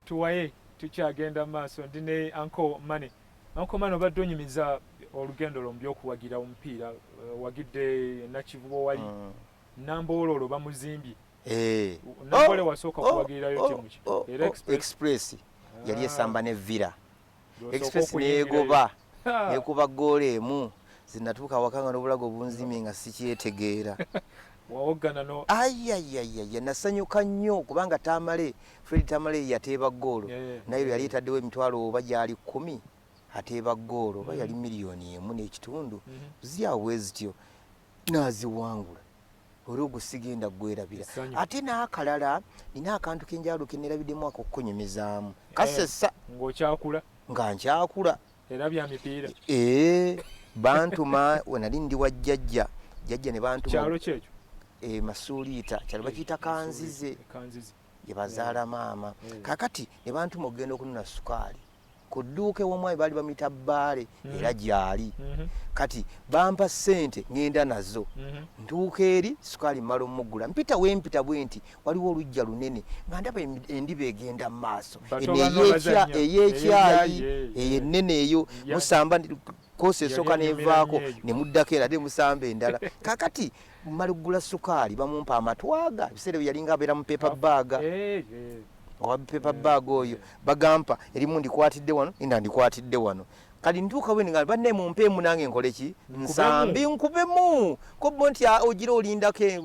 tuwaye tukyagenda maaso ndi ne anko mane anko mane obadde onyumiza olugendo lwo mubyokuwagira omupiira eh, wagidde nakivubo wali ah. namboololo bamuzimbye eh. nambole oh, wasooka oh, kuwagirirayo oh, temuki era express yali ah. esamba ne villa Express neegoba nekuba ggoolo emu zinatuuka awaka nga n'obulago bunzimye nga sikyetegeera ayayayaya nasanyuka nnyo kubanga tamale fred tamale yateeba ggoolo naye lwe yali etaddewo emitwalo oba gyali kkumi ateeba ggoolo oba yali mm. miliyoni emu n'ekitundu mm-hmm. zyawo bwe zityo naziwangula olwo ogwo sigenda kugwerabira ate n'akalala nina akantu kenjalo kenerabidemu ako okukunyumizaamu eh, kasesa ngaokyakula nga nkyakula era bya mipiira ee eh, bantuma wenali ndi wa jjajja jjajja ne bantumakyalo kyekyo e masuuliita kyalo bakiyita kanzize gye bazaala maama kakati ne bantuma okugenda okunona sukaali ku dduuka ew'omwami baali bamuyita bbaale mm-hmm. era gyali mm-hmm. kati bampa ssente ngenda nazo mm-hmm. ntuuka eri sukaali mmala omuggula mpita wempita bwe nti waliwo olujja lunene nga ndaba endiba egenda mu maaso eyekyayi eyo ennene eyo musamba koosi esooka nevaako ne muddako era de musamba endala kakati mmala okugula sukaali bamumpa amatwaga ebiseera bye yalinga abeera mu pepa bbaaga owa paper bag oyo bagampa erimu ndikwatidde wano enda ndikwatidde wano kali ntuuka bwe nga banne mumpeemu nange nkole ki nsambi nkubemu kobbo nti ah, ogira olindako e,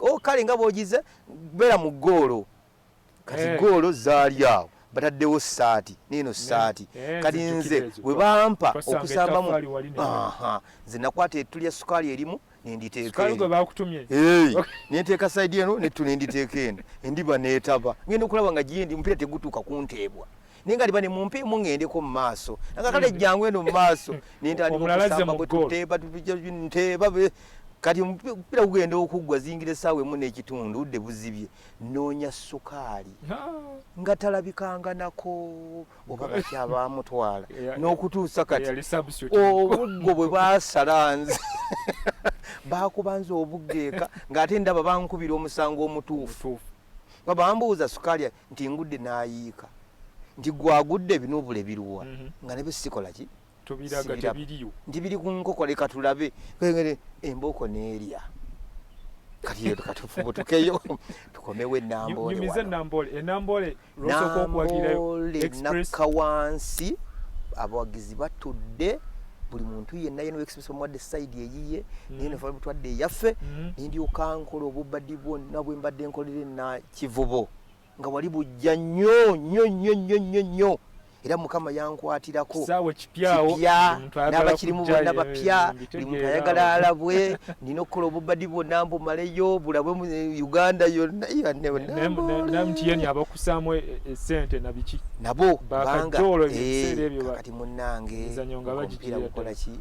oh, kale nga bwogize beera mu ggoolo kati eh. ggoolo zaali awo bataddewo saati neeno saati eh, kati nze bwe bampa okusamba mu nze nakwata ettu lya sukaali erimu nenditeekasukali gwe bakutumye nenteeka saidi eno nettu nenditeeka eno endiba neetaba ngenda okulaba nga gyendi omupiira tegutuuka kunteebwa naye nga liba ne mumpe emu ngendeko mu maaso nga kale jjangu eno mu maaso nentandikaokusambanteeba kati omupiira gugenda okuggwa zingira essaawa emu n'ekitundu udde buzibye noonya sukaali nga talabikanganako oba bakya bamutwala n'okutuusa kati obuggo bwe basala nze bakubanza obuggeeka ng'ate ndaba bankubira omusango omutuufu nga bambuuza sukaali nti ngudde n'ayiika nti gwagudde ebinubula ebiruwa mhm. nga ne bye sikolaki tubiraga tebiriyo ndi biri ku nkoko leka tulabe kwengere embooko neerya kati yetu katufubutukeyo tukomewo enamboole nyumize enamboole enamboole lwosooka okuwagirayo express kawansi abawagizi batudde buli muntu yenna yena express omuwadde side eyiye mm. naye nafala butwadde eyaffe mm. nendyoka nkola obubadi bwonna bwembadde nkolere na kivubo nga wali bujja nnyo nnyo nnyo nnyo nnyo nnyo era mukama yankwatirako n'abakirimu bonna bapya buli muntu ayagala alabwe nina okukola obubadi bwonna mbumaleyo bulabwe mu eh, uganda yonnayonabakusaamu eh, eh, sente nabiki nabo bangakati munnange omupiira gukolaki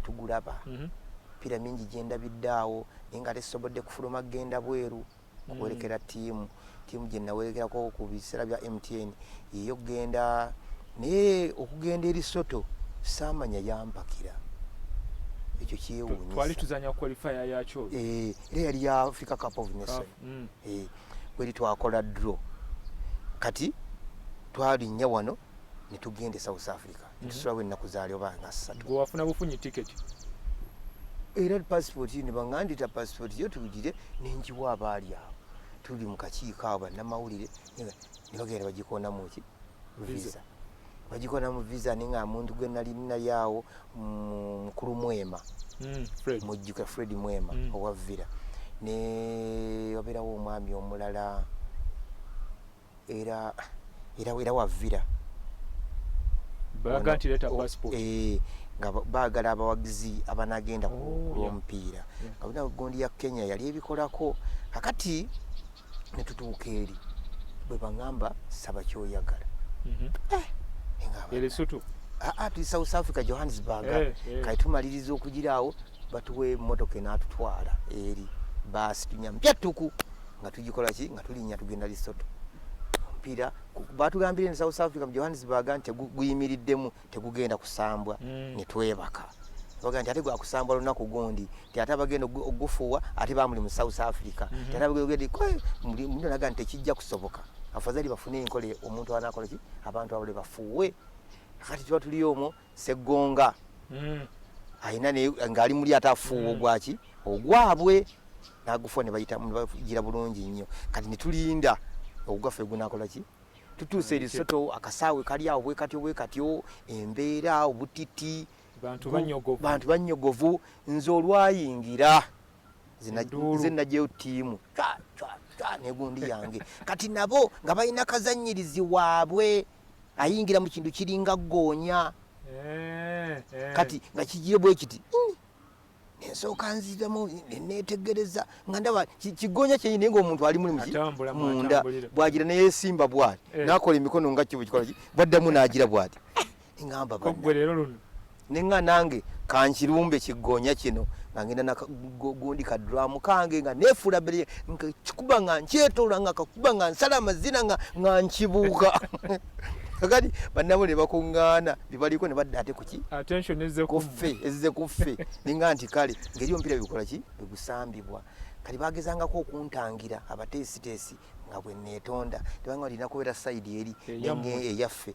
tugulaba mhm. mipiira mingi gyendabidde awo naye nga tesobodde kufuluma kugenda bweru okuwerekera mm. tiimu tiimu gye nawerekerako ku biseera bya mtn yeyo okugenda naye okugenda eri soto saamanya yampakira ekyo kyewunyisa twali tuzanya qualifier yakyo eh era yali ya Africa Cup of Nations mm. eh kweli twakola draw kati twalinnya wano ne tugenda e South Africa ntusulawo ennaku zaalyo banga ssatu gwe wafuna bufunyi tiketi era pasipooti yo ne bangandita pasipooti yo tugire nenjiwa abaali awo tuli mu kakiiko awo bannamawulire ne bagenda bagikoonamu ki visa bagikola mu visa ninga muntu gwe nali nali awo mukulu mwema mm, mujjuka fred mwema mm. owa villa ne waberawo omwami omulala era era era wavira balaga nti leta passport eh nga bagala abawagizi abanagenda ku oh, lwomupiira nga bina gondi ya Kenya yali ebikolako akati ne tutuuka eri bwe bangamba saba kyoyagala mhm. eh, ele sutu a ah, a ah, tu South Africa Johannesburg eh, eh. kai tumaliriza okugiraawo batuwe motoka enatutwala eri basi tunyambya tuku nga tugikola ki nga tulinya tugenda lisoto mpira batugambire ne south africa mu johannesburg nti guyimiriddemu tegugenda kusambwa mm. ne twebaka baga nti ate gwakusambwa lunaku gundi ti ate abagenda ogufuwa ate bamuli mu south africa mm -hmm. ti ate abagenda ogundi naga nti tekijja kusoboka afadhali bafune enkola omuntu anakola ki abantu abale bafuwe kati tuba tuliyo omwo Seggonga alina ng'ali muli ate afuuwa ogwaki ogwabwe nagufuwa ne bayita bagira bulungi nnyo kati ne tulinda ogugaffe gunakola ki tutuuse erisoto akasaawe kali awo bwekatyo bwekatyo embeera obutiti bantu banyogovu nze olwayingira nze najeyo tiimu negundi yange kati nabo nga balina kazanyirizi waabwe ayingira mu kintu kiringa ggoonya eh, eh. kati nga kigiye bwe kiti ensooka nziramu neetegereza nga ndaba kigoonya kyenyini naye ngaomuntu ali muli munda bwagira neyesimba bwati eh. nakola emikono nga kibu kikola bwaddamu naagira bwati ngamba ne nga nange kankirumbe kiggoonya kino nga ngenda nagundi kaduramu kange nga nefuula bere nkikuba nga nkyetoola nga kakuba nga nsala amazina nga nga nkibuuka kakati bannabo ne bakuŋŋaana bibaliko ne badda ate kuki kuffe ezze kuffe ninga nti kale ngeri omupiira bikola ki bwegusambibwa kati bagezangako okuntangira abateesiteesi nga bwe neetonda tebanga olina kubeera sayidi eri eyaffe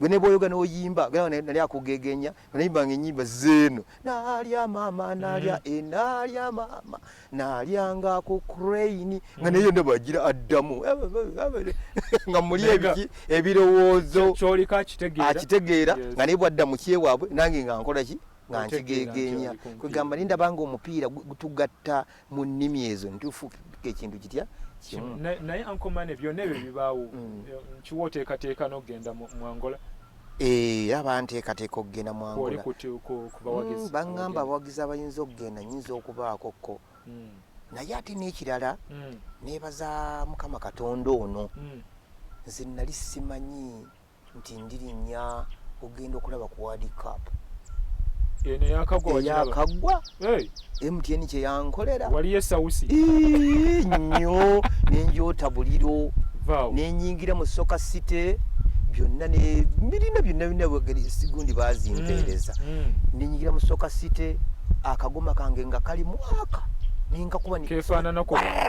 gwe ne bwoyoga n'oyimba galawa nali akugegenya nayimbanga ennyimba zeeno nalya mama nalya mm. enalya eh, mama nalyanga ku crane nga mm. naye yonna bagira addamu nga muli ebiki ebirowoozo kyolika akitegeera akitegeera nga naye bwadda mu kyewaabwe nange nga nkola ki nga nkigegenya kwegamba naye ndabanga omupiira gutugatta mu nnimi ezo ntuufu ekintu kitya kimu naye ankomane byonna ebyo bibaawo mm. eh, nkiwa oteekateeka n'okugenda mu angola eh, era banteekateeka okugenda mu angola mm, baŋŋamba abawagizi abayinza okugenda nyinza okubaako ko mm. naye ate n'ekirala neebaza mukama katonda ono nze nali simanyi nti ndirinya ogenda okulaba ku wadi cap eno yakagwa yakagwa hey. mtn kyeyankolera waliyo esausi nnyo nenjota buliro nenyingira mu soka city byonna nebirina byonna byonna bwegeri sigundi bazimpeereza mm, mm. nenyingira mu soka city akagoma kange nga kali mwaka ninkakuba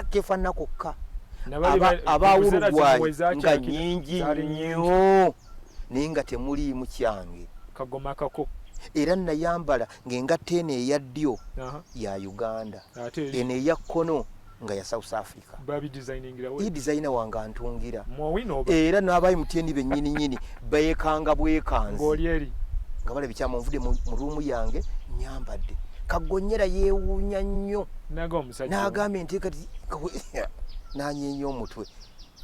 kefanana kokka abaawulugwayo nga nyingi nnyo naye nga temuliimu kyange kagoma kako era nayambala ng'engatta eno eya ddyo ya uganda eno eya kkono nga ya south africa i designe wange antungira era n'abayi mutyendi bennyininyini beekanga bwekanzi nga bala bikyama nvude mu ruumu yange nyambadde kagonyera yeewuunya nnyo n'agambye nti kati nanyeenya omutwe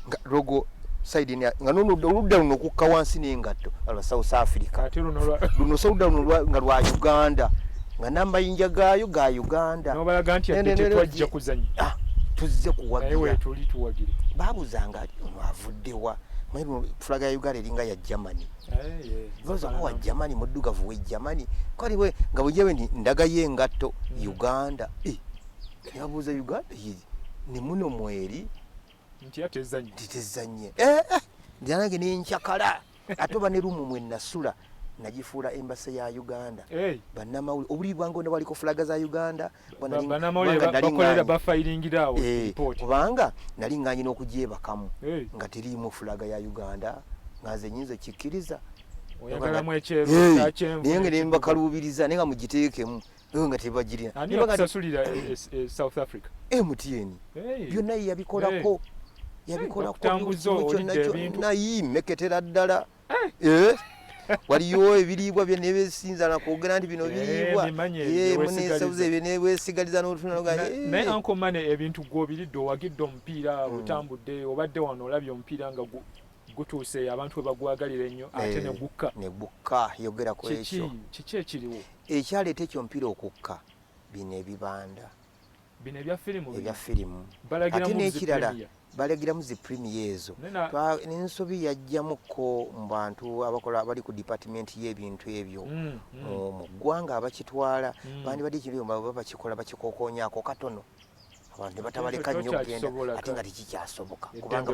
nga logo side nga noludda oludda luno okukka wansi n'engatto lwa south africa luno soludda luno nga lwa uganda nga n'amayinja gaayo ga uganda ah, tuzze kuwagira babuzanga ono avuddewa fulaga ya uganda eringa ya germany ozakuwa eh, germany muddugavu we germany kaliwe nga bwejewe ndagayo engatto hmm. uganda eh. yabuuza uganda yiri ne muno mweri nti atezanye nti tezanye eh, eh. njanange nenkyakala ate oba ne lumu mwe nasula nagifuula embasa ya uganda hey. banamawuli obuli bwange ne waliko fulaga za uganda banalinbafayiringirawo eh, kubanga nali nganye n'okugyebakamu hey. nga teriimu fulaga ya uganda nga nze nyinza okikkiriza naye nga nembakaluubiriza naye nga mugiteekemu ewe nga tebagirina ani yakusasulira e, e, e, south africa mtn byonna ye yabikolako yabikolakonayimeketera ddala waliyo ebiriibwa bye nebesinza nakwogera nti bino biriibwa munesauza ebyo newesigaliza notunanaye ankomane ebintu gwobiridde owagidde omupiira hmm. otambudde obadde wano olabye omupiira nga gutuuse abantu we bagwagalira ennyo eh, ate ne gukka ne gukka yogera ku ekyo kiki ekiriwo ekyaleeta ekyo mpira okukka bino ebibanda bino ebya firimu ebya firimu ate n'ekirala balagiramu zi premier ezo n'ensobi yajjamukko mu bantu abakola abali ku dipatimenti y'ebintu ebyo mm, mm. mu ggwanga abakitwala mm. bandibadde ekiriyo baba bakikola bakikokonyako katono abantu ne batabaleka nnyo okugenda ate nga tekikyasoboka kubanga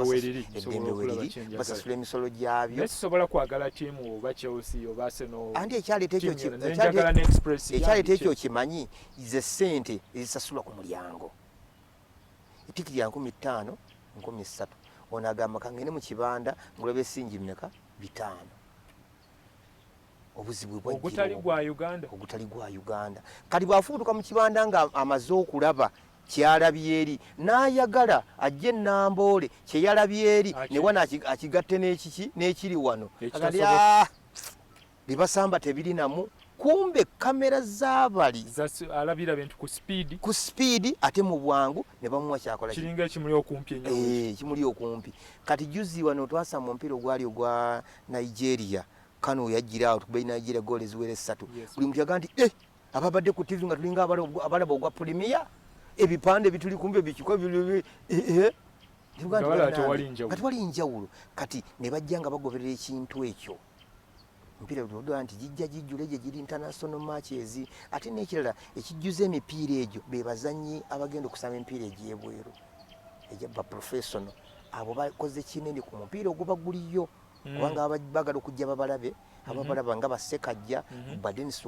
eddembe weriri basasula emisolo gyabyo sisobola kwagala tiimu oba chelsea oba arsenal andi ekyaleeta ekyo kimanyi ze ssente ezisasulwa ku mulyango etikiri ya nkumi ttaano nkumi ssatu ono agamba kangende mu kibanda ngulaba esingi mmeka bitaano obuzibu ogutali gwa uganda ogutali gwa uganda kati bwafubutuka mu kibanda nga amaze okulaba kyalabyeri n'ayagala ajje namboole kyeyalabyeri newana akigatte n'ekiki n'ekiri wano ah, bibasamba tebirinamu kumbe kamera zabali alabira bintu ku speed ku speed ate mu bwangu ne bamuwa kyakola kiringa ekimuli okumpi enyo eh, ekimuli okumpi kati juzi wano twasa mu mpiro gwali ogwa Nigeria kano weyajjira awo tukuba Nigeria goolo eziwera essatu buli muntu yagaa nti eh, ababadde ku tivi nga tulinga abalaba ogwa pulimiya ebipande bituli kumbe bikiko eh, eh. nga tewali njawulo kati ne bajja nga bagoberera ekintu ekyo emipiira tudodola nti gijja gijjula egyo giri international matches ate n'ekirala ekijjuza emipiira egyo be bazannyi abagenda okusaba emipiira egyebweru egya baprofessional abo bakoze kinene ku mupiira oguba guliyo mm. kubanga bagala okujja babalabe mm-hmm. ababalaba nga basekajja mm-hmm. badenis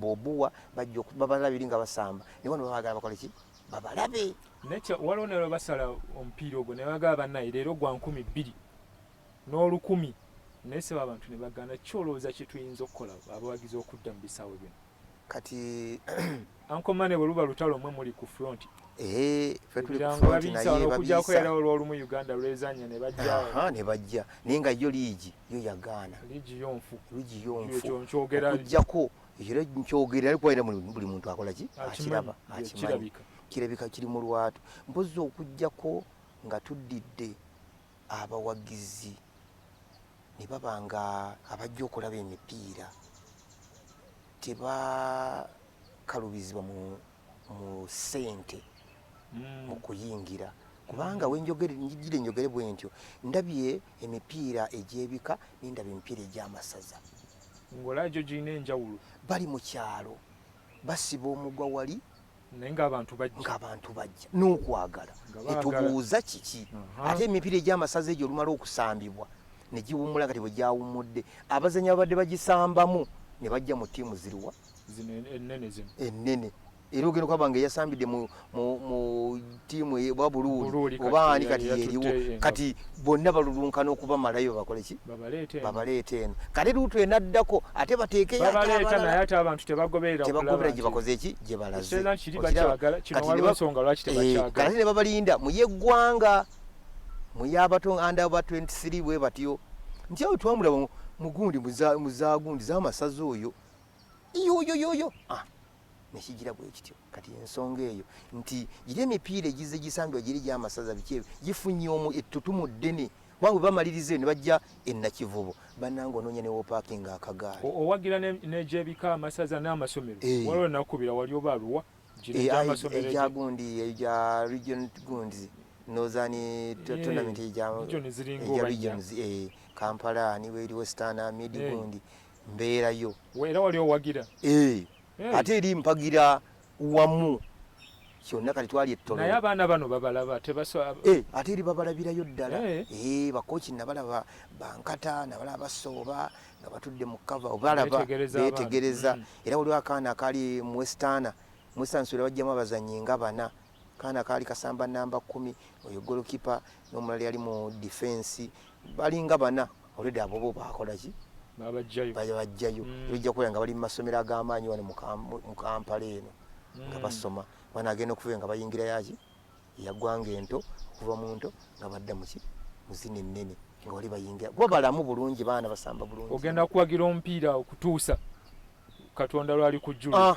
bobuwa bajja babalabiri nga basamba naye bano babagala bakole ki babalabe nekyo waliwo nalwe basala omupiira ogwo naye bagala banaye leero gwa nkumi bbiri n'olukumi naye seba abantu ne bagana kyolowooza kye tuyinza okukola abawagizi okudda mu bisaawe bino kati anko mane bwe luba lutalo mwe muli ku front eh, okujako era olwolumu uganda lwezanya nebajja naye nga yo liigi yo yagaana liigi yonfu okujjako era nkyogera ariko era buli muntu akola ki akiraba akimanyi kirabika kiri mu lwatu mpozi okujjako nga tuddidde abawagizi ne baba ng'abajja okulaba emipiira tebakalubizibwa mu mu ssente mu hmm. kuyingira kubanga hmm. wenjogere njigire njogere bwe ntyo ndabye emipiira egy'ebika nendaba emipiira egy'amasaza ng'olaba gyo girina enjawulo bali mu kyalo basiba omugwa wali ng'abantu bajja n'okwagala etubuuza kiki ate emipiira egy'amasaza egyo olumala okusambibwa ne giwummula kati bwe gyawummudde abazanyi babadde bagisambamu ne bajja mu ttiimu ziriwa ennene era ogenda okulaba nga eyasambidde mu tiimu oba buluuli oba ani kati yeriwo kati bonna balulunkana okubamalayo babakole ki babaleeta eno kale luutu enaddako ate bateekeyotebagobera gye bakoze eki gye balazekati ne babalinda muyeggwanga muyabato anda ba 23 bwe batyo nti awo twamulaba mugundi muzagundi zamasaza oyo iyoyoyoyo ah. nekigira bwekityo kati ensonga eyo nti giri emipiira egize gisambibwa giri gyamasaza biki ebyo gifunye omu ettutumu ddene kubanga webamaliriza ne bajja enakivubo bananga onoonya newopakinga akagaali owagira negyebika amasaza n'amasomero eh. waliwo nakubira wali oba aluwa gyagundi eh, eh, eyo gya region gundi nozani tournament eja regions kampala niweri western mid gundi mbeerayo era wali owagira eh, eh. ate eri mpagira wamu kyonna kati twali ettono naye abaana bano babalaba tebasa eh, ate eri babalabirayo ddala eh. bakoki nabalaba bankata nabalaba basooba nga batudde mu kava obalaba betegereza mm. era waliwo akaana akali muwesitaana muwesitaana suula bajjamu abazanyi nga bana Kaana kaali kasamba namba kkumi, oyo golokipa n'omulala yali mu difensi. Balinga bana olwedde abo bo baakola ki? Babaggyayo. Mm. Era ojja kubeera nga bali mu masomero ag'amaanyi wano mu Kampala eno nga mm. basoma. Bana agenda okubeera nga bayingira yaki eyaggwanga ento okuva mu nto nga badda muki mu zino ennene nga wali bayingira kuba balamu bulungi baana basamba bulungi. Ogenda kuwagira omupiira okutuusa Katonda lwali kujjula. Ah.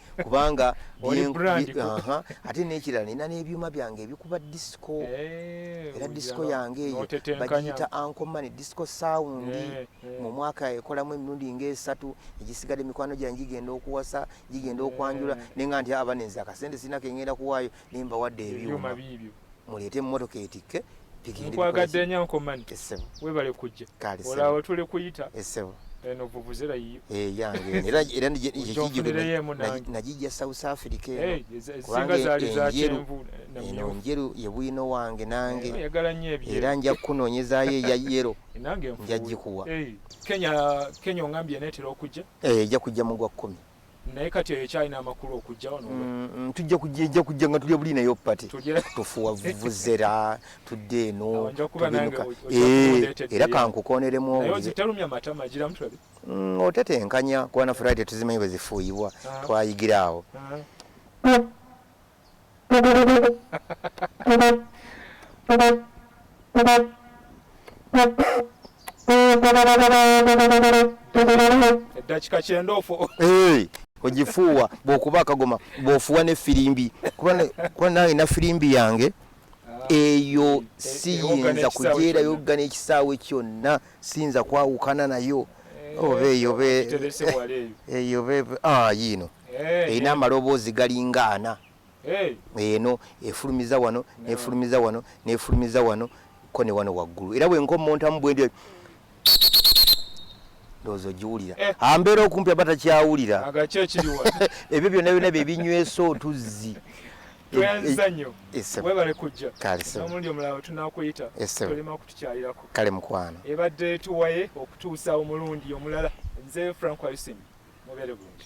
kubanga ate nekirala nina nebyuma byange ebikuba disco eh, era disco yange eyo bagiyita ankomane disco sound eh, eh. mu mwaka ekolamu emirundi ngaesatu egisigade mikwano gyange gigenda okuwasa gigenda okwanjula nenga nti abanenzi akasente sirina kengenda kuwaayo nembawadde ebyuma muleete emmotoka etikke nkwagadde nya nkomani webale kujja olaawo tuli kuyita eno vuvuzera yiyo eh, yange era era najijja south africa eh, kubanga enjeru eno njeru ye bwino wange nange eh, era nja kukunoonyezayo eya yero nja gikuwa kenya kenya ongambye netera okujja ejja kujja mu gwa kkumi naye kati eyo ekyalina amakulu okujja wano mm, mm, tujja kujja ejja kujja nga tulya buli nayo pati tufuwa vuvuzera tudde eno tubinuka eh, era kankukoneremu mm, otetenkanya kuba na friday tuzimanyi bwe zifuuyibwa ah. twayigira awo ah. eddakika kyendoofu ogifuuwa bwokuba akagoma bwofuwa ne firimbi kuba nange na firimbi yange ah. eyo siyinza kujeerayo gana ekisaawe kyonna sinza kwawukana nayo eh, oba eyoba eyoba eh, ah, yiino eh, erina amaloboozi galinga ana eno efulumiza wano nefulumiza wano nefulumiza wano ko ne wano waggulu era bwenkomontamu bwendi ndowooza ogiwulira eh. ambeera ah, okumpi aba takyawulira ebyo byonna byonna bye binywesa otuzzi tweyanziza nnyo webale kujja n'omulundi omulala wetunakuyita tolema kutukyalirako kale mukwano ebadde tuwaye okutuusa omulundi omulala nze frank wayusin mubeere bulungi